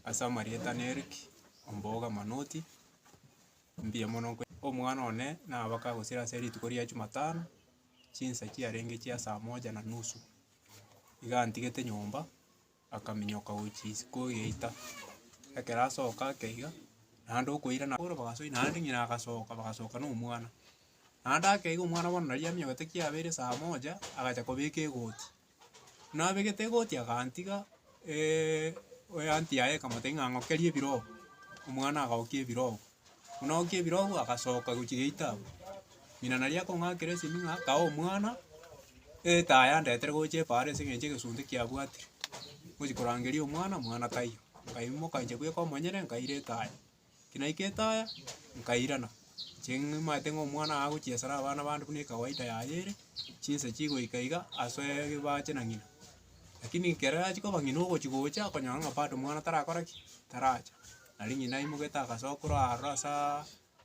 ase amarieta na Eric ombogo manoti, mbuya mono nkwe. Omwana one nabake agosira ase rituko ria jumatano, chinsa chiarenge chia saa moja na nusu, iga antigete nyomba. Akaminyoka gochia isiko egeita, ekero asoka ake iga, naende okoirana bono bagasoa naende ng'ina agasoka bagasoka na omwana. Naende ake iga omwana bono nari aminyokete kiabeire saa moja, agacha kobeka egoti. Buna abegete egoti agantiga oyo anti yaye ekamotebia ng'a ng'okerie ebirogo, omwana agaokia ebirogo. Buna ogokia ebirogo agasoka gochia gate abwo. Ng'ina naria akong'akera esimi ng'a kaa omwana, etaaya yandetere gocha epaara ase eng'encho egesunte kiabwatire. Ngochi korangeria omwana, omwana taiyo. Nkaimoka inche bweka omonyene nkaira etaaya. Eki naika etaaya, nkairana. Inche nimanyete ng'a omwana aye agochia esara abana bande buna ekawaida yaye ere, chinsa chigoika iga asoe ebibache na ng'ina. Lakini ekero achia koba ng'ina ogochi gocha, akonyora ng'a bado omwana tarakora ki? Taracha. Nari ng'ina aimogete agasoa korwa aroro ase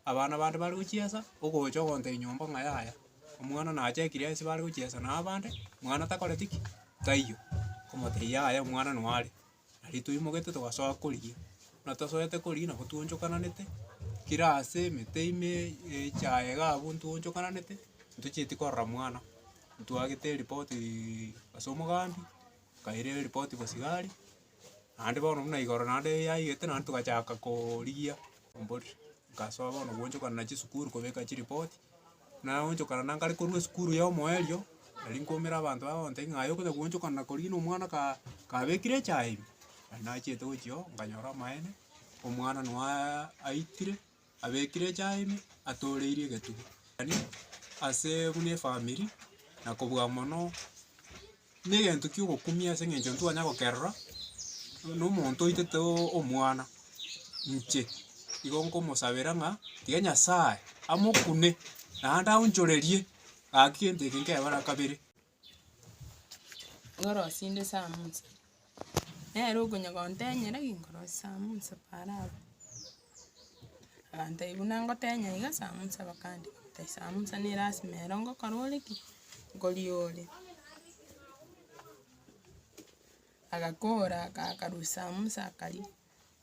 abana bande bare gochiesa, ogocha ogonta enyomba ng'a yaya, omwana nachakire ase bare gochiesa na abande, mwana takoreti ki? Taiyo. Komotebia yaya omwana noyo are. Nari toimogetie togasoa korigia, buna tosoete korigia nabo twaonchokananete, kira ase emete ime echaye iga abwo ntwaonchokananete, ntochieti korora mwana, ntwagete eripotiiiii ase omogambi, nkaira eripotii bosigari. Naende bono buna igoro naende yaigete naende togachaka korigia omborero. Nkasoa bono goonchokana na chisukuru kobeka chiripoti, naonchokana na nkare korwa esukuru ya omoerio, nari nkoumera abanto baba bagontebia ng'a aye okonya goonchokana na korigia na omwana ka kabekire echae ime. Nari nachiete gochia oo, nkanyora amaene, omwana noe aitire. abekire echae ime, atooreirie egetugi. Tari ase buna efamiri, na kobua mono, negento kia ogokumia ase eng'encho ntitwanya gokerora, buna omonto oitete o- omwana, inche igo nkomosabera ng'a tiga nyasaye amokune, naende aonchorerie, gaki gento eke nkebara kabere. Ngorosinde samusi, nere okonya gontenyera ki ngorosie samusi paaro abwo, agantebia buna ngotenya iga samusi bakandika tai samusi ne lasima ero ngokora ore ki, ngoria ore. Agakora, akarusia samusi akaria.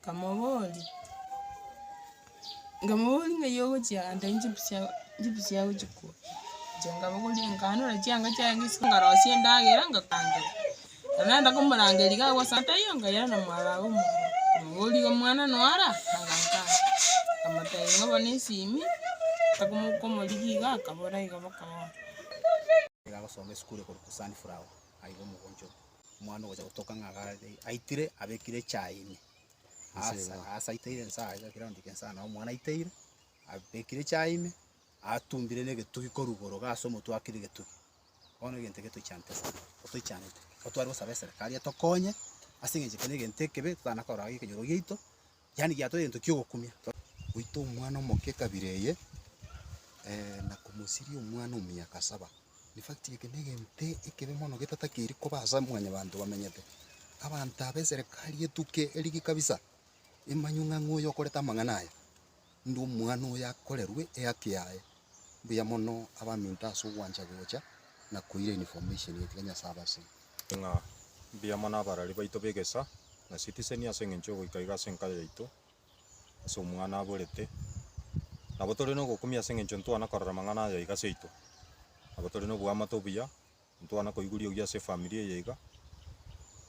Nkamoboria, nkamoboria ng'ai ogochia ande inche mbuya mbuya gochia korwa, inche nkabogoria nkanora chianga chiaye ng'ai isiko nkarosia endagera ngakangera, ekero nagenda komorangeria iga agwo ase ataiyo nkayira na mwarabu omo, nkamoboria igo mwana noyo ara? Akanka aa, nkamotebia ng'a bono esimi komorigia iga akabora igo boka boka. omwana ogocha gotoka ng'a iga are, aitire abekire echae ime, Ase aasa iga. aasa aiteire nsa iga naki raundi eke nsa nabo omwana aiteire, abekire echae ime, atumbire na egetugi korwa igoro iga ase omotwe akire egetugi. Bono egento eke toichanete sana, totoichanete, ekero tware gosaba eserekari etokonye, ase eng'encho eke na egento ekebe, totana korora gaki ekenyoro giaito, Yaani giatoa egento ki'ogokumia. Goita omwana omoke ekabira eye, na komosiria omwana o miaka saba. In fact, eke negento ekebe mono getatakeiri koba ase mwanyabanto bamenyete. Abanto aba eserekari etuke erige kabisa, emanywe ng'a ng'o oyo okorete amang'ana aya. Inde omwana oyo akorerwe ehaki yaye. Mbuya mono abaminto ase ogwancha gocha na koira information ekiagera Nyasae abasire. Ng'a mbuya mono abarari baito b'egesa na Citizen ase engencho y'ogoika iga ase enka yaito ase omwana aborete. Nabo tore nogokumia ase engencho ntwana korora amang'ana aya iga seito. Nabo tore noboamate obuya. Ntwana koiguri ogia ase efamiri eye iga.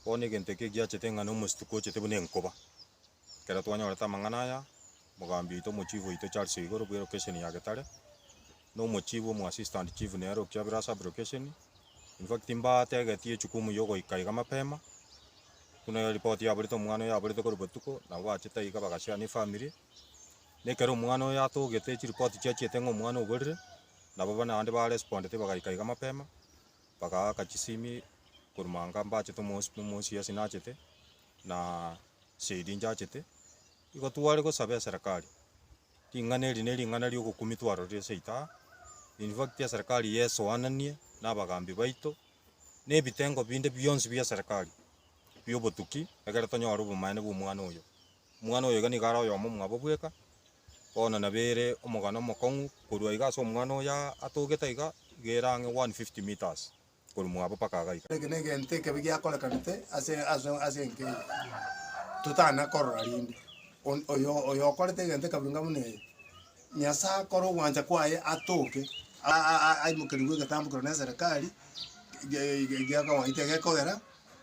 Bono egento eke giachete ng'a na omosito kwochete buna enkoba. Ekero twanyorete amang'ana aya, mogambi oito omochifu oito Charles Oigoro bwe lokesheni ya Getare, na omochifu omo assistant chief nere o Kiabira sub lokesheni, in fact mbategetie echukumu ya ogoika iga mapema, buna eripoti yaborete omwana oyo aborete korwa botuko, nabo bachete aiga bagasiana efamiri, Na ekero omwana oyo atogete chiripoti chiachiete ng'a omwana oborire, nabo buna abande ba respondete bagaika iga mapema, bagaaka chisimi korwa manga mbachete omosi buna omosi yesi nachete, na shahidi njachete, igo tware gosaba eserekari, ring'ana eri ne ring'ana ria ogokumia twarorire ase ita aa, in fact eserekari iga esoananie na abagambi baito, na ebitengo binde bionsi bia eserekari bia obotuki, egere tonyore obomaene bwa omwana oyo. Omwana oyoiga nigo are oyomo mwabo bweka, bono nabo ere omogano omokong'u korwa iga ase omwana oyo atogete iga, iga ere ang'e 150 metres korwa mwabo mpaka iga iga. Eke negento ekebe giakorekanete ase ase ase enka eye, totana korora rende. On oyo oyo okorete egento ekabunga buna eye, Nyasaye akore ogwancha kwaye atoke a- a- a- aimokerigwe egetambo keru neserikari, ge- ge- geakawaete gekogera.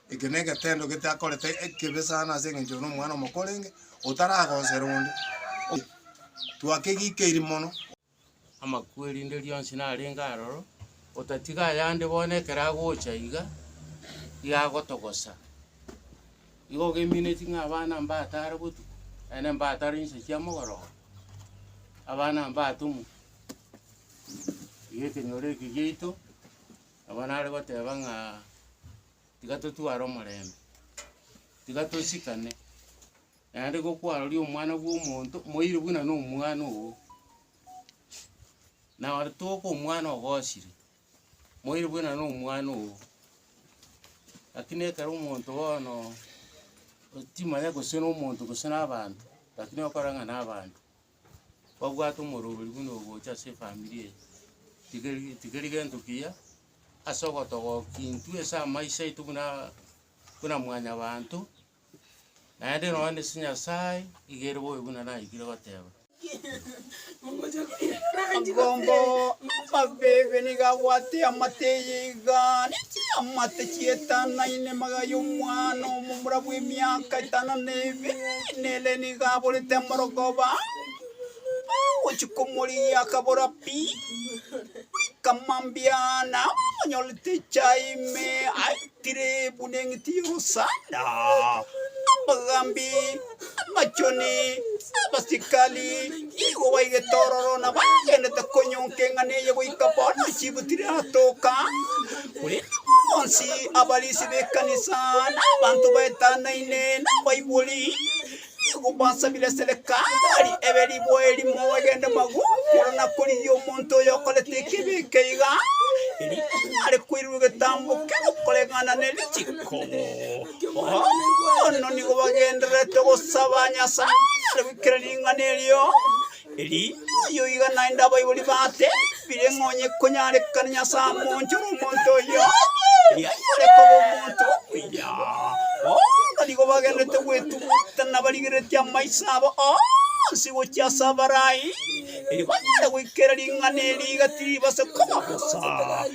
Eke negetendo gete akorete ekebe sana ase engencho ore nomwana omoke orenge, otaragosera onde, o twakegikeiri mono. Amakwo erinde rionsi narenge aroro, otatiga ayande bono ekero agocha iga, iga agotogosa. Igo ogemineti ng'a abana mbatare botuko, naende mbatare inse chia mogorogo, abana mbatomwe, iga ekenyoro eke giaito Nabo nare goteba ng'a tiga totware omorembe, tiga tosikane, naende igo kwaroria omwana bwa omonto moire buna na omwana ogo, na ore toka omwana ogosire, moire buna na omwana ogo, lakini ekero omonto bono otimanya gose na omonto gose na abanto, lakini okore ng'a na abanto. kwabwate omorwori buna ogocha ase efamiri eye, tikeri tikeri gento kiya ase ogotoba okintwe ase amaiso aito buna buna mwanyabanto, naende nonya na ase Nyasaye, iga ere bobe buna naikire goteba. Omogomba o Abebe nigo abwate eamate eye iga. Gani chiamate chietanaine magaya omwana omomura bw'emiaka etano na ebere, na ere nigo aborete amorogoba? Agochia komorigia akabora pi, goika mambia nao amonyorete echae ime aitire buna eng'iti y'orosanda. Amagambi Amachoni abasikari nigo baigete ororo na bagenderete konyonka eng'ana eye goika bono chibutire atoka. Korende bonsi abarisi b'ekanisa na abanto baetanaine na abaibori nigo basabire Serekari ebe riboa erimo egende magwa igoro na korigia omonto oyo okorete ekibe eke iga, erinde are koirwa egetambo kere okoregana ne richiko. Bono nigo bagendererete gosaba Nyasae ase goikera ring'ana erio, erioyio iga naende abaibori batebire ng'a onye konyarekane Nyasae amoonchore omonto oyio, erio anyare koba omonto omuya. Bono nigo bagendererete gwetugutana barigereretie amaiso abo onsi gochia ase abarai, erio banyare goikera ring'ana eri iga tiribasa koba bosa.